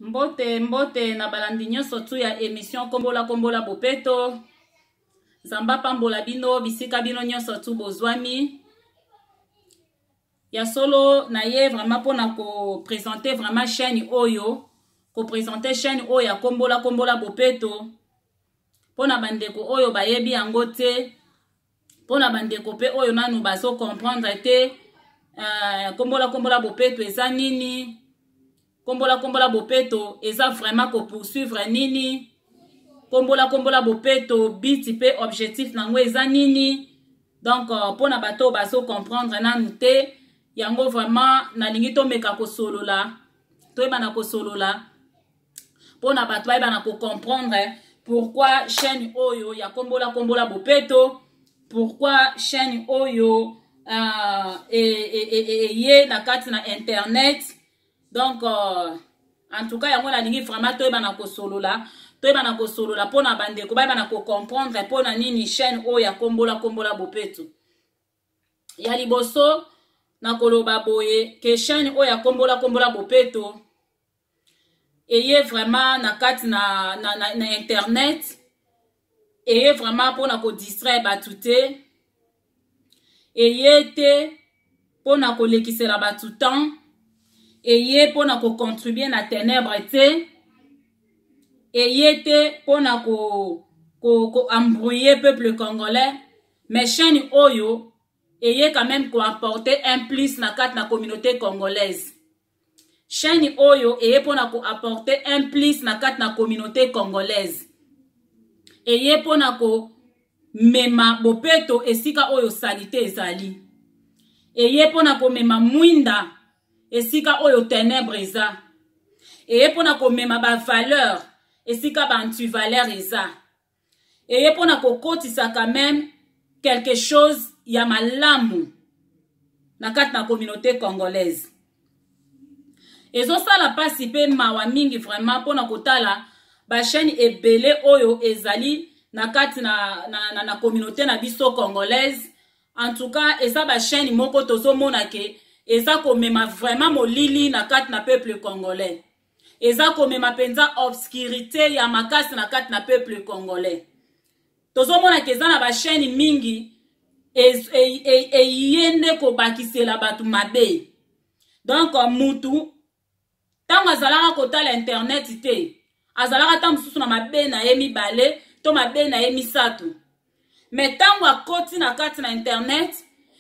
mbote mbote na balandi nyonso tu ya emission kombola kombola bopeto nzambe apambola bino bisika bino nyonso tu bozwami ya solo na ye vraiment mpona kopresente vraiment chaîne oyo kopresente chaîne oyo ya kombola kombola bopeto mpo na bandeko oyo bayebi yango te mpo na bandeko mpe oyo nanu bazo comprendre te uh, kombola kombola bopeto eza nini kombola kombola bopeto eza vraiment kopoursuivre nini kombola kombola bopeto biti mpe objectif na yango eza nini donc euh, mpo na bato oyo bazo comprendre nanu te yango vraiment nalingi tomeka kosolola toyebana kosolola mpo na bato bayeba na kocomprendre pourquoi chaîne oyo ya kombola kombola bopeto pourquoi chaîne oyo uh, e, e, e, e, eye na kati na internet donc uh, en tout cas yango nalingi vraiment toyeba na kosolola toyeba na kosolola mpo na bandeko bayeba na kocomprendre mpo na nini chaîne oyo ya kombola kombola bopeto ya liboso nakoloba boye ke chaine oyo akombola kombola bopeto eye vraiment na kati na, na, na, na internet eye vraiment mpona kodistraire bato te eye te mpona kolekisela bato temps eye mpona kocontribue na tenebre te eye te mpona ko, ko, ko embrouiller peuple congolais mais chaîne oyo eye quand même koapporte un plus na kati na communauté congolaise chaîne oyo eye mpo na koapporte un plus na kati na communauté congolaise eye mpo na komema bopeto esika oyo salite ezali eye mpo na komema mwinda esika oyo tenebre eza eye mpo na komema bavaleur esika baantivaleur eza eye mpo na kokotisa quand même quelque chose ya malamu na kati na communauté congolaise ezosala mpasi mpe mawa mingi vraiment mpo na kotala bachaine ebele oyo ezali na kati na, na, na, na communauté na biso congolaise en tout cas eza bachaine moko tozomona ke eza komema vraiment molili na kati na peuple congolais eza komema mpenza obscurité ya makasi na kati na peuple congolais tozomona ke eza na bachaine mingi eye e, e, e, nde kobakisela bato mabe donk mutu ntango azalaka kotala internet te azalaka ntango mosusu na mabe na ye mibale to mabe na ye misato me ntango akoti na kati na internet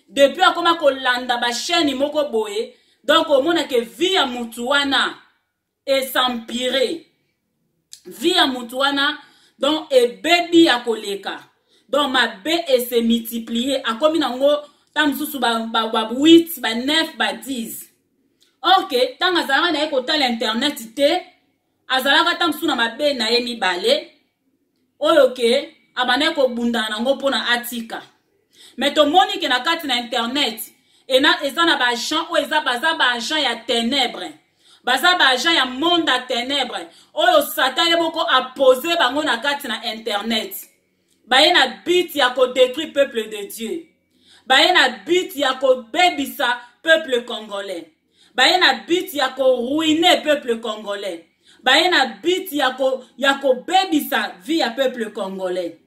depuis akoma kolanda bachaine moko boye donc omona ke vie ya mutu wana esampire vie ya mutu wana donc ebebi ya koleka donc mabe ese multiplier akomi nango ta mosusu ba 8 ba 9 ba 10 orke ntango azalaka na ye kotala internet te azalaka ata mosusu na mabe na ye mibale oyo ke abandaki kobundana nango mpo na atika me tomoni ke na kati na internet ena eza na baagent oyo eza baza baagent ya tenebre baza baagent ya monde ya tenebre oyo satan ye moko apose bango na kati na internet baye na but ya kodetruire peuple de dieu baye na but ya kobebisa peuple congolais baye na but ya koruine peuple congolais baye na but ya, ko, ya kobebisa vie ya peuple congolais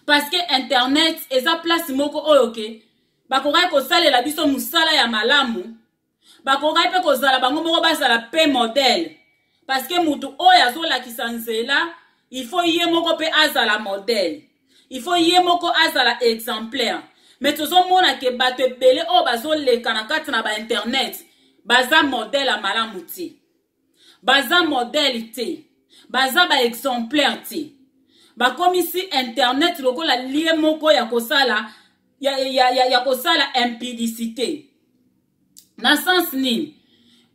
parce que internet eza place moko oyo ke bakokaki kosalela biso mosala ya malamu bakokaki mpe kozala bango moko bazala mpe modele parce que moto oyo azolakisa nzela il faut ye moko mpe azala modele il faut ye moko azala exemplaire mais tozomona ke bato ebele oyo bazoleka na kati na bainternet baza modele ya malamu te baza modele te baza baexemplaire te bakomisi internet lokola lie moko ya kosala ya, ya, ya, ya kosala impudicité na sens nini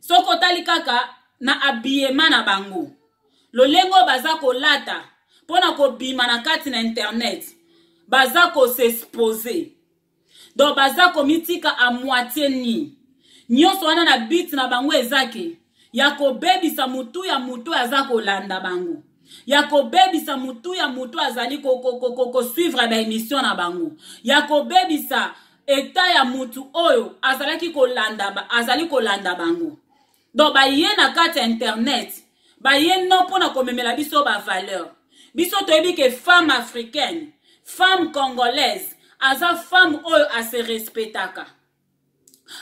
soki otali kaka na habillement na bango lolenge oyo baza kolata mpo na kobima na kati na internet baza kosexpose donc baza komitika a moitie nini nyonso wana na bit na bango eza ke ya kobebisa motu ya motu aza kolanda bango ya kobebisa motu ya motu azali kosuivre baemission na bango ya kobebisa eta ya motu oyo azalaki kolanda azali kolanda bango donc baye na kati ya internet baye no mpo na komemela biso bavaleur biso toyebi ke femme africaine femme congolaise aza femme oyo ase respectaka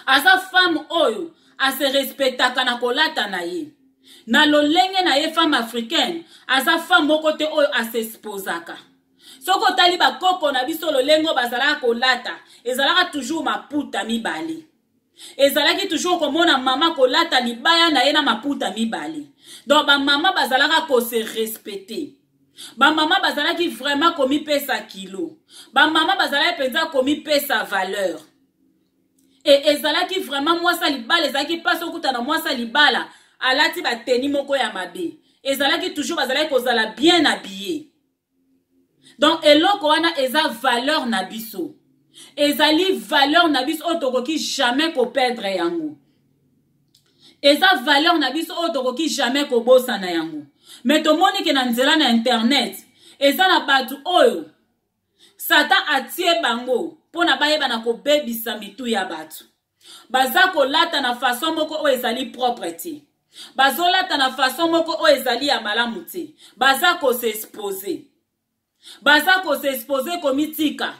aza femme oyo ase respectaka na kolata na ye na lolenge na ye femme africaine aza femme moko te oyo asesposaka soki otali bakoko na biso lolenge oyo bazalaka kolata ezalaka toujours maputa mibale ezalaki toujours komona mama kolata libaya na ye na maputa mibale donc bamama bazalaka kose respecte bamama bazalaki vraiment komipesa kilo bamama bazalaki mpenza komipesa valeur e ezalaki vraiment mwasi ya libala ezalaki mpasi okuta na mwasi ya libala alati bateni moko ya mabe ezalaki toujours bazalaki kozala bien habille donc eloko wana eza valeur na biso ezali valeur na biso oyo tokoki jamais koperdre yango eza valeur na biso oyo tokoki jamais kobosana yango me tomoni ke na nzela na internet eza na bato oyo satan atie bango mpo na bayeba na kobebisa mitu ya bato baza kolata na fason moko oyo ezali propre te bazolata na fason moko oyo ezali ya malamu te baza kose expose baza ko s'exposer komitika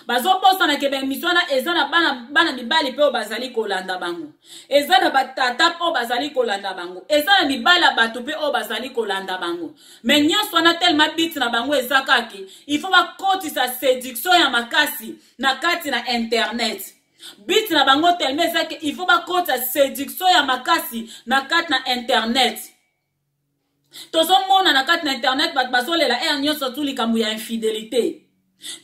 bazobosana ke baemission wana eza na bana, bana mibali mpe oyo bazali kolanda bango eza na batata mpe oyo bazali kolanda bango eza na mibali ya bato mpe oyo bazali kolanda bango me nyonso wana telema biti na bango eza kaki il faut bakotisa séduction ya makasi na kati na internet biti na bango telema eza ke il faut bakotisa séduction ya makasi na kati na internet tozomona na kati na internet bato bazolela ere nyonso tu likambo ya infidelité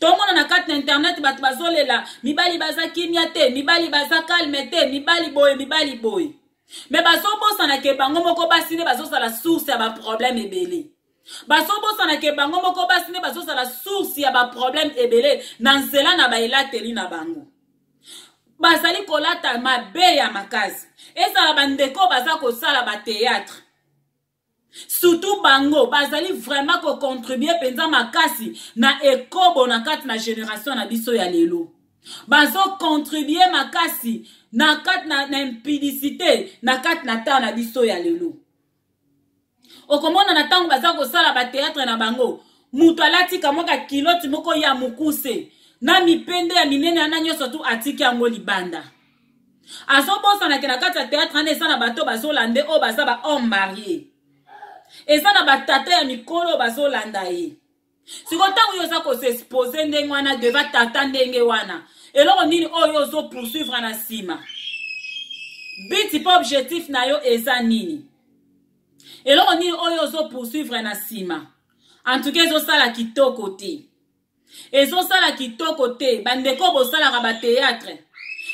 tomona na kati na internet bato bazolela mibali baza kimia te mibali baza kalme te mibali boye mibali boye me bazobosana ke bango moko basi nde bazozala source ya baproblème ebele bazobosana ke bango moko basi nde bazozala source ya baproblème ebele na nzela na baelateli na bango bazali kolata mabe ya makasi ezala bandeko baza kosala bateatre surtout bango bazali vraiment kocontribue mpenza makasi na ekobo na kati na generation na biso ya lelo bazocontribue makasi na kati na, na impudicité na kati na temps na biso ya lelo okomona na ntango baza kosala bateatre na bango moto alati kamwa kakiloti moko ya mokuse na mipende ya minene wana nyonso tu atiki yango libanda azobosanake na kati ya teatre wana eza na bato bazolande oyo baza bahomme marie eza na batata ya mikolo oyo bazolanda ye siko ntango yo oza kosexpose ndenge wana deva tata ndenge wana eloko nini oyo oh, ozo poursuivre na nsima biti mpe objectif na yo eza nini eloko nini oyo oh, ozo poursuivre na nsima antuka ezosala kitoko te ezosala kitoko te bandeko bosalaka bateatre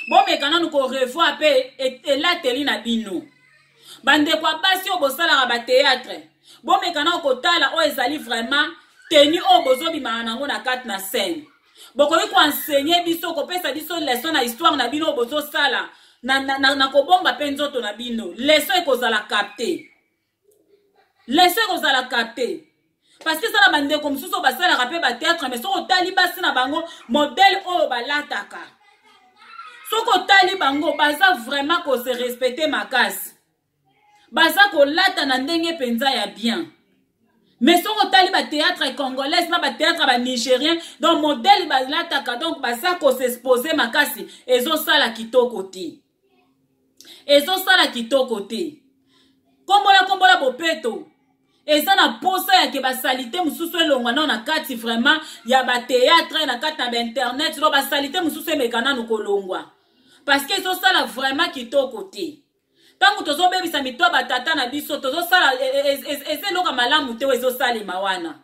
bomeka nanu korevoir mpe e-, elateli na bino bandeko ya basi oyo bosalaka bateatre bomeka nao kotala oyo ezali vraiment teni oyo bozobimaka nango na kati na scène bokoki koensegne biso kopesa biso leson na histoire na bino oyo bozosala na, na, na, na kobomba mpe nzoto na bino leson ekozala capte leson ekozala capte parce que eza na bandeko mosusu oyo basalaka mpe bateatre mais soki otali basi na bango modele oyo balataka soki otali bango baza vraiment kose respecte makasi baza kolata na ndenge mpenza ya bien mais soki otali bateatre congolaise na bateatre banigérien donc modele balataka donc baza kosexpose makasi ezosala kitoko te ezosala kitoko te kombola kombola bopeto eza na mposa yake basalite mosusu elongwa nao na kati vraiment ya bateatre na kati na bainternet no basalite mosusu emeka nanu kolongwa parce que ezosala vraiment kitoko te ntango tozobebisa mito ya batata na biso tozosala e, e, e, eza eloko malamu te oyo ezosalema wana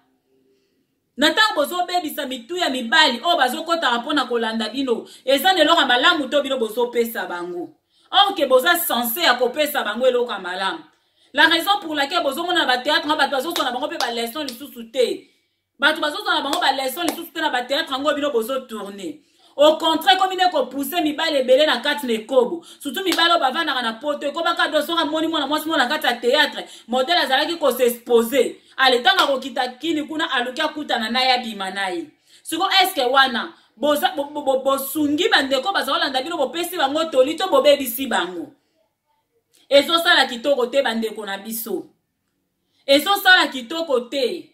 na ntango bozobebisa mitu ya mibali oyo bazokotaka mpo na kolanda bino eza na eloko ya malamu to bino bozopesa bango orke boza sense ya kopesa bango eloko ya malamu la raison pour laquelle bozomona na bateatre yango bato bazozwa na bango mpe baleson lisusu te bato bazozwa na bango baleson lisusu te na bateatre yango bino bozotourne au contraire ekomi nde kopousse mibali ebele na kati na ekobo surtout mibali oyo bavandaka na poto ekobaka do soki amoni mwana mwasi moko na kati ya théâtre modele azalaki kosexpose ale ntango akokita kini kuna aluki akutana na ye abima na ye siko eske wana bosungi bandeko baza kolanda bino bopesi bango toli to bobebisi bango ezosala kitoko te bandeko na biso ezosala kitoko te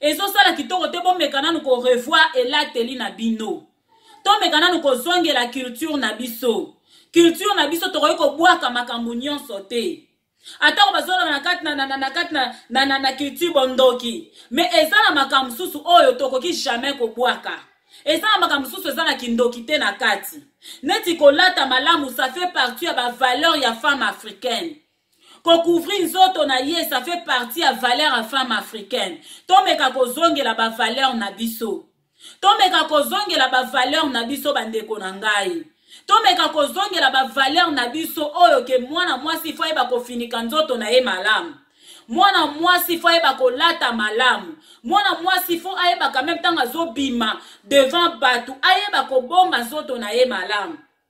ezosala kitoko te bomeka nanu ko revoir elateli na bino tomeka nanu kozongela culture na biso culture na biso tokoki kobwaka makambo nyonso te atako bazolona na kati na kati na culture bondoki me eza na makambo mosusu oyo tokoki jamais kobwaka eza na makambo mosusu eza na kindoki te na kati neti kolata malamu ça fait partie ya bavaleur ya femme africaine kocouvrir nzoto na ye ça fait partie ya valeur ya femme africaine tomeka kozongela bavaleur na biso tomeka kozongela bavaleur na biso bandeko na ngai tomeka kozongela bavaleur na biso oyo ke mwana mwasi fo ayeba kofinika nzoto na ye malamu mwana mwasi fo ayeba kolata malamu mwana mwasi fo ayeba kameme ntango azobima devant bato ayeba kobomba nzoto na ye malamu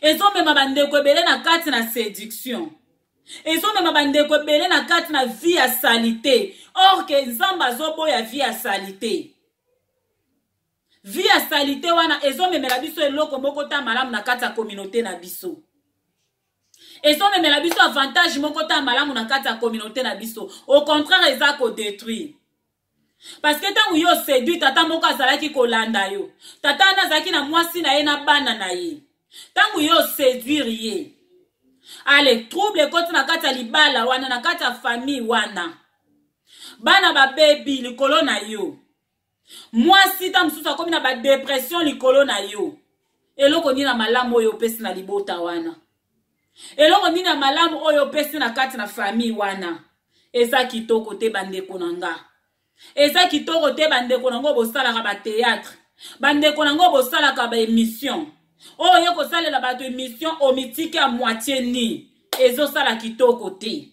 ezomema bandeko ebele na kati na séduction ezomema bandeko ebele na kati na vie ya salite or ke nzambe azoboya vie ya salite vie ya salite wana ezomemela biso eloko moko ta malamu na kati ya kominauté na biso ezomemela biso avantage moko ta malamu na kati ya kominauté na biso au contraire eza kodétruire parce que ntango yo osedui tata moko azalaki kolanda yo tata wana azalaki na mwasi na ye na bana na ye ntango yo oseduire ye ale trouble ekoti na kati ya libala wana na kati ya famille wana bana babebi likolo na yo mwasi ntango mosusu akomi na badepression likolo na yo eloko nini na malamu oyo opesi na libota wana eloko nini ya malamu oyo opesi na kati na famille wana eza kitoko te bandeko na nga eza kitoko te bandeko na ngo bosalaka bateatre bandeko na ngo bosalaka baemission oyo ye kosalela bato emission omitiki ya moitie ni ezosala kitoko te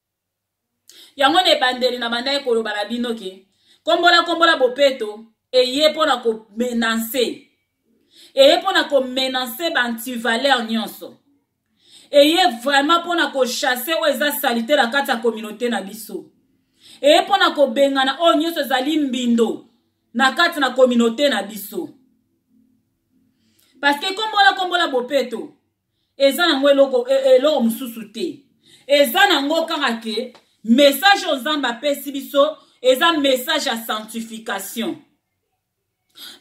yango na ebandeli na bandaki koloba na bino ke kombola kombola bopeto eye mpo na komenanse eye mpo na komenanse baantivaleur nyonso eye vraiment mpo na kochasse oyo eza salite na kati ya kominauté na biso eye mpo na kobengana oyo nyonso ezali mbindo na kati na kominauté na biso parceke kombola kombola bopeto eza nango eloko e, e, eloko mosusu te eza nango kaka ke message oyo nzambe apesi biso eza message ya sanctification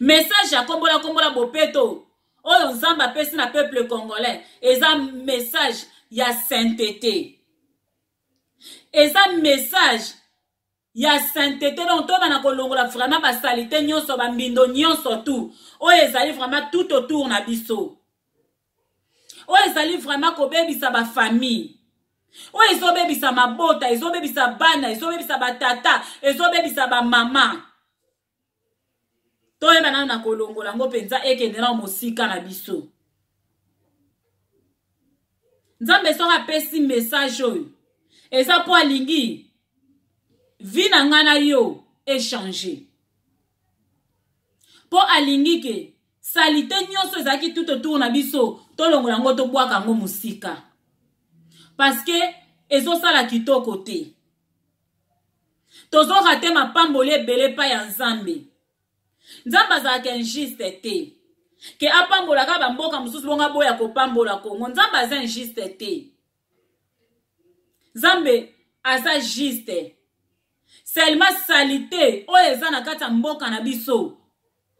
message ya kombola kombola bopeto oyo nzambe apesi na peuple congolais eza message ya saintete eza message ya saintete donc tobana kolongola vraiment basalite nyonso bambindo nyonso tout oyo ezali vraiment tout autour na biso oyo ezali vraiment kobebisa bafamille oyo ezobebisa mabota ezobebisa bana ezobebisa batata ezobebisa bamama toyeba nano na kolongola yango mpenza ekende nao mosika na biso nzambe soki apesi message oyo eza mpo alingi vi na ngai na yo echange mpo alingi ke salite nyonso ezalaki tout autour na biso tolongola yango tobwaka yango mosika parce que ezosala kitoko te tozo rate mapamboli ebele epai ya nzambe nzambe azalaka injuste te ke apambolaka bamboka mosusu bongo aboya kopambola kongo nzambe aza injuste te nzambe aza juste selma salite oyo eza na kati ya mboka na biso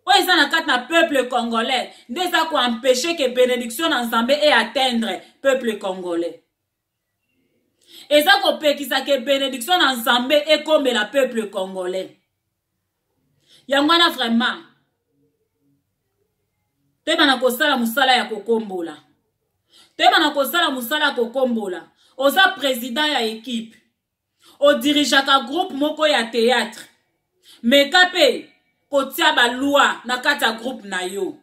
oyo eza na kati na peuple congolais nde eza koempeshe ke benediction na nzambe e atteindre peuple congolais eza kopekisa ke benediction na nzambe ekomela peuple congolais yango wana vraiment toyeba na kosala mosala ya kokombola toyeba na kosala mosala ya kokombola oza president ya ekipe odirigeaka groupe moko ya théâtre meka mpe kotia balwa na kati ya groupe na yo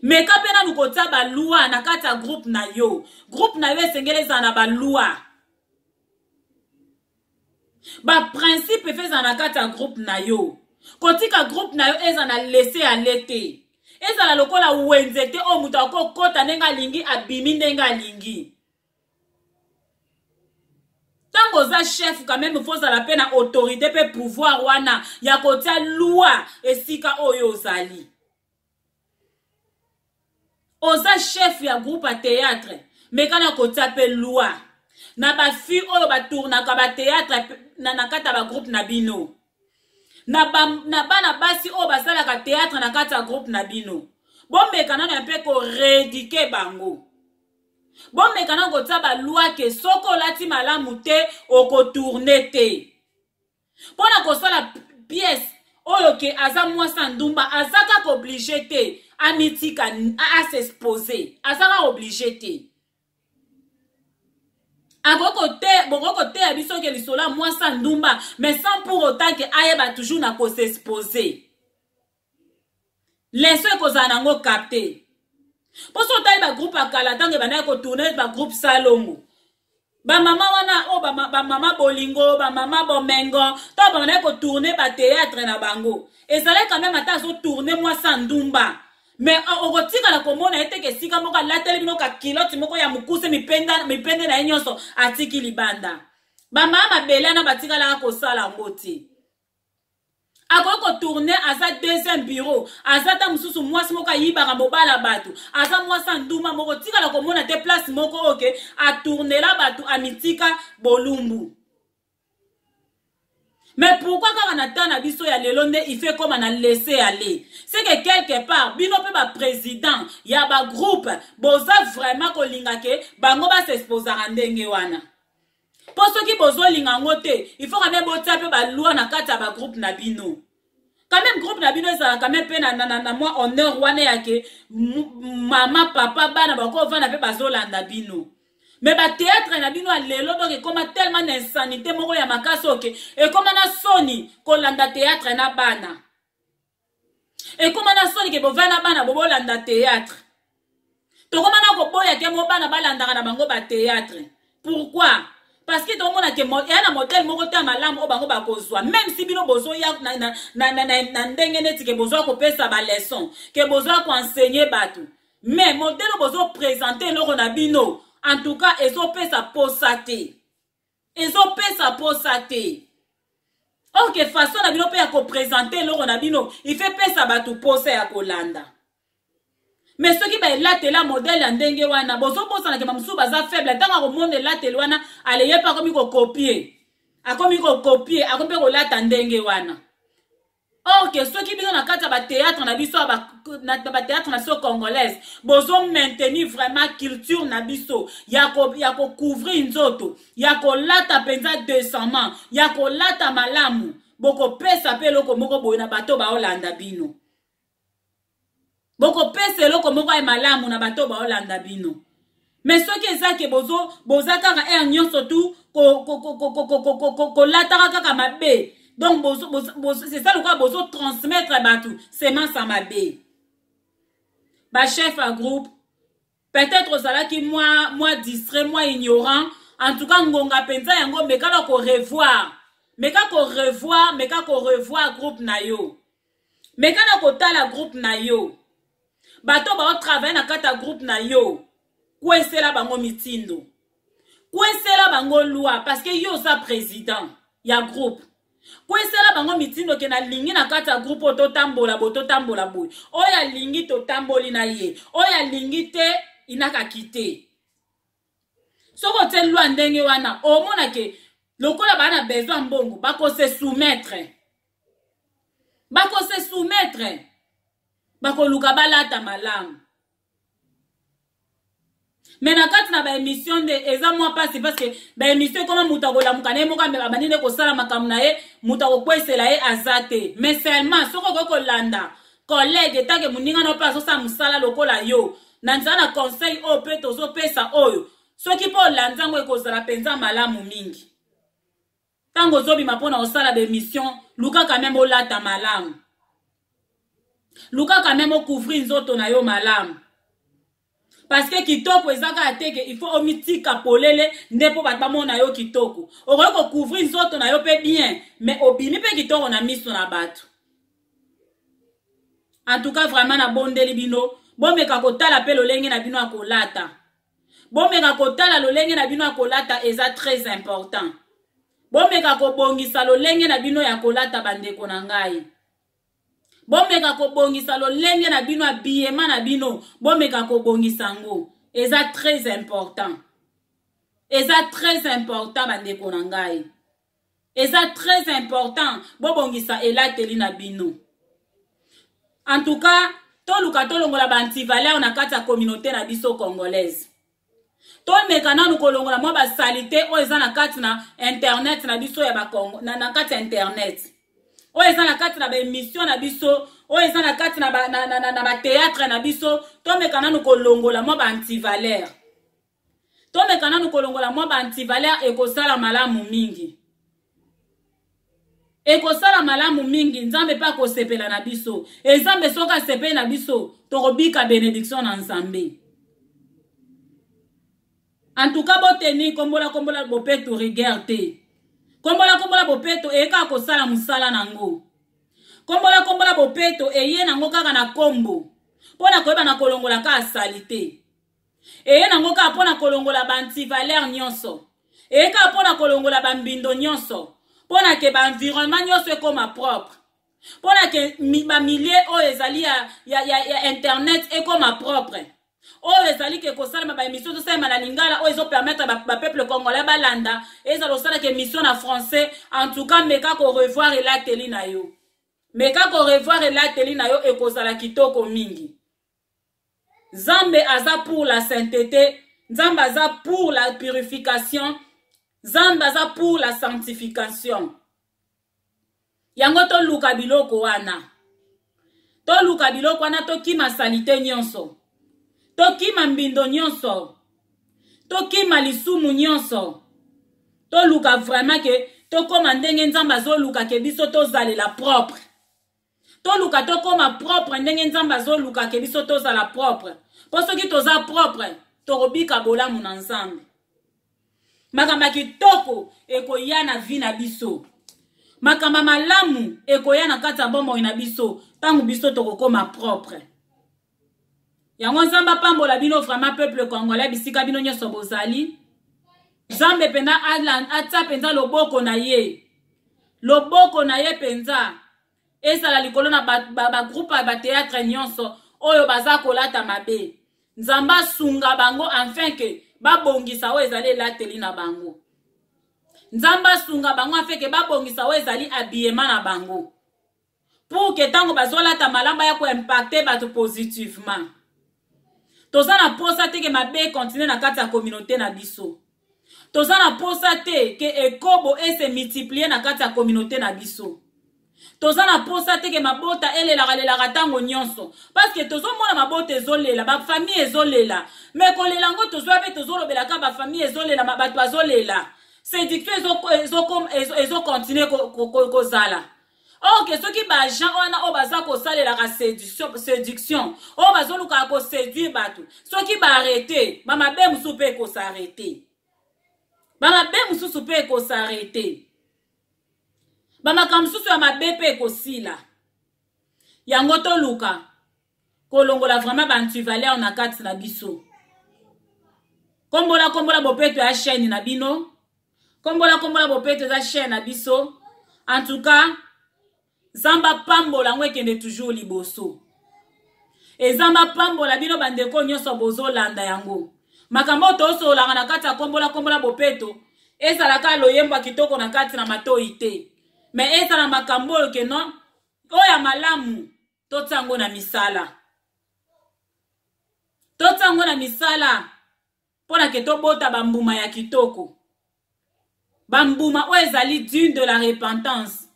meka mpe nanu kotia balwa na kati ya groupe na yo groupe na yo esengeli ezala na balwa baprincipe efe ezala na kati ya groupe na yo kotika groupe na yo ezala na lese ya le te ezala lokola wenze te oyo moto akoki kokɔta ndenge alingi abimi ndenge alingi ntango oza chef quand même faut ozala mpe na autorité mpe pouvoir wana ya kotia loi esika oyo ozali oza chef ya groupe ya théâtre meka na kotia mpe loi na bafille oyo batournaka bateatre na, na kati ya bagroupe na bino na, ba, na bana basi oyo basalaka teatre na kati ya groupe na bino bomeka nano ya mpe koredike bango bomeka na kotia balwa ke soki olati malamu te okotourne te mpo na kosala pièce oyo ke aza mwasi ya ndumba aza kaka oblige te amitika asexpose aza kaka oblige te bokoki koteya biso ke lisolo ya mwasi ya ndumba mais sans pour autant ke ayeba toujours na kosexpose leso ekozala nango capte mpo so otali bagroupe ya kala ntango ebandaki kotourne bagroupe salongo bamama wana oyo bamama bolingo bamama bomengo ntango babandaki kotourne bateatre na bango ezalaki quand meme ata azotourne mwasi ya ndumba me euh, okotikala komona ye teke esika moko alateli bino kakiloti moko ya mokuse mipende na ye nyonso atiki libanda bamama mabele wana batikalaka kosala yango te akoki kotourne aza deuxième bureau aza ta mosusu mwasi moko ayibaka mobala bato aza mwasi anduma moko tikala komona te place moko oke atournela bato amitika bolumbu mais pourquoi kaka na temps na biso ya lelo nde ife ekoma na laisse aller ce que quelque part bino mpe baprésident ya bagroupe boza vraiment kolinga ke bango basexposaka ndenge wana mpo soki bozolinga yango te il faut kame botia mpe balwa na kati ya bagroupe na bino quand même groupe na bino ezala quand même mpe na, na, na, na mwa honneur wana yake mama papa bana bakovanda mpe bazolanda bino me bateatre na bino ya lelo donk ekoma tellement na insanité moko ya makasi oke ekoma na soni kolanda teatre na bana ekoma na soni ke bovai na bana bobolanda théâtre tokoma na koboya ke mo bana balandaka na bango bathéâtre pourquoi parce que tokomona ke eya na modele moko te ya malamu oyo bango bakozwa même si bino bozoya na, na, na, na, na, na ndenge neti ke bozwa kopesa baleson ke bozwa koenseigne bato mais modele oyo bozopresente eloko na bino en tout cas ezopesa posa te ezopesa posa te ok façon na bino mpe ya kopresente eloko na bino ife pesa bato posa ya kolanda me soki baelatela modele ya ndenge wana bozobosanake bamosusu baza faible ntango akomona elateli wana aleye mpe akomi kokopie akomi kokopie akomi mpe kolata ndenge wana or ke soki bino na kati ya bateatre na biso na bateatre na biso congolaise bozo maintenir vraiment culture na biso ya kocouvrir ko nzoto ya kolata mpenza decemment ya kolata malamu bokopesa mpe eloko moko boye na bato baolanda bino bokopesa eloko moko ya malamu na bato baolanda bino me soki eza ke bozo boza kaka aire nyonso tu kolataka kaka mabe donc c'est ça lokola bozo transmettre bato semence ya mabe bachef ya groupe peut-être ozalaki mwa mwa distrait mwa ignorant en tout cas ngonga mpenza yango mekala korevoir meka korevoir meka korevoir groupe na yo meka na kotala groupe na yo bato baotravaille na kati ya groupe na yo kwesela bango mitindo kwesela bango loi parce que yo oza président ya groupe kwesela bango mitindo ke nalingi na kati ya groupe oyo totambola boye totambola boye oyo alingi totamboli na ye oyo alingi te inakaki te soki otie lwa ndenge wana omona ke lokola baa na besoin mbongo bakose soumettre bakose soumettre bakoluka balata malamu me na kati na baémission nde eza mwa mpasi parceke baémission ekoma moto akolamuka na ye moko ameka bandi nde kosala makambo na ye moto akokwesela ye aza te mais seulement soki okoki kolanda collègue etanke moninga na yo mpe azosala mosala lokola yo na nzela na conseil oyo mpe tozopesa oyo soki mpe olandi yango ekozala mpenza malamu mingi ntango ozobima mpo na kosala bemission luka quand meme olata malamu luka quand meme ocouvrir nzoto na yo malamu parce que kitoko eza kaka te ke il faut omitika polele nde mpo bato bamona yo kitoko okoki kocouvrir nzoto na yo mpe bien mais obimi mpe kitoko na miso na bato en tout cas vraiment nabondeli bino bomeka kotala mpe lolenge na bino ya kolata bomeka kotala lolenge na bino ya kolata eza très important bomeka kobongisa lolenge na bino ya kolata bandeko na ngai bomeka kobongisa lolenge na bino ya biyema na bino bomeka kobongisa yango eza très important eza très important bandeko na ngai eza très important bobongisa elateli na bino en tout cas toluka tolongola baantivaleur na kati ya communauté na biso congolaise tomeka nanu kolongola mwa basalite oyo eza na kati na internet na biso ya bakongo na, na kati ya internet oyo eza na kati na baemission na biso oyo eza na kati na bateatre na, na, na, na, na biso tomeka nanu kolongola mwa baantivaleur tomeka nanu kolongola mwa ba antivaleur ekosala malamu mingi ekosala malamu mingi nzambe mpe akosepela na biso ezambe soki asepeli na biso tokobika benediction na nzambe antuka boteni kombola kombola bopeto rigueur te kombola kombola bopeto eye kaka kosala mosala na yango kombola kombola bopeto eye na yango kaka na kombo mpo na koyeba na kolongola kaka salite eye nango kaka mpo na kolongola baantivaleur nyonso eye kaka mpo na kolongola bambindo nyonso mpo na ke baenvironnement nyonso ekoma propre mpo na ke bamilie oyo ezali ya, ya, ya, ya internet ekoma propre oyo ezali ke kosalema baémission tosalema na lingala oyo ezopermettre bapeuple ba congolais balanda ezala osalaka émission na français en tout cas meka korevoir elateli na yo meka korevoir elateli na yo ekozala kitoko mingi Zambe aza pour la sainteté, Zambe aza pour la purification, Zambe aza pour la sanctification. Yango to luka biloko wana. To luka biloko wana to kima salite nyonso. To kima mbindo nyonso. To kima lisumu nyonso. To luka vraiment ke to koma ndenge nzambe azo luka ke biso to zalela propre. toluka tokoma propre ndenge nzambe azoluka ke biso tozala propre mpo soki toza propre tokobika bolamu na nzambe makambo ya kitoko ekoya na vi na biso makambo ya malamu ekoya na kati ya bomoi na biso ntango biso tokokoma propre yango nzambe apambola bino vraiment peuple congolais bisika bino nyonso bozali nzambe mpenza atya mpenza loboko na ye loboko na ye mpenza ezala likolo na bagroupe ya bateatre nyonso oyo baza kolata mabe nzambe asunga bango enfin ke babongisa oyo ezali elateli na bango nzambe asunga bango afeke babongisa oyo ezali abiyema na bango pour que ntango bazolata malamu baya koimpacte bato positivement toza na mposa te ke mabe ekontinue na kati ya communauté na biso toza na mposa te ke ekobo ese multiplie na kati ya communauté na biso toza na mposa te ke mabota elelaka lelaka ntango nyonso parceke tozomona mabota ezolela bafamille ezolela me kolela yango tozwa mpe tozolobela kaka bafamille ezolela bato bazolela séduction ezokontinue ezo, ezo, ezo kozala ezo oke oh, soki baagent wana oyo oh, baza kosalelaka séduction oyo oh, bazolukaka koséduire bato soki baarete bamabe mosusu mpe ekosarete bamabe mosusu mpe ekosarete bamakambo mosusu ya mabe mpe ekosila yango toluka kolongola vraiment ba antivaleur na kati na biso kombola kombola bopeto ya chaîne na bino kombola kombola bopeto eza chaîne na biso en tout cas zamba pambola yango ekende toujours liboso ezamba pambola bino bandeko nyonso bozolanda yango makambo oyo tosololaka na kati ya kombola kombola bopeto ezalaka loyembo ya kitoko na kati na matoi te me ezala makambo oyo ke non oyo ya malamu totia yango na misala totia yango na misala mpo na ke tobota bambuma ya kitoko bambuma oyo ezali dune de la repentance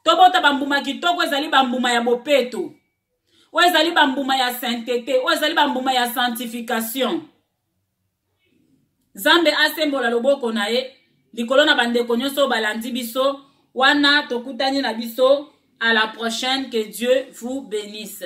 tobota bambuma kitoko ezali bambuma ya bopeto oyo ezali bambuma ya saintete oyo ezali bambuma ya sanctification nzambe asembola loboko na ye likolo na bandeko nyonso balandi biso wana tokutani na biso à la prochaine que dieu vous bénisse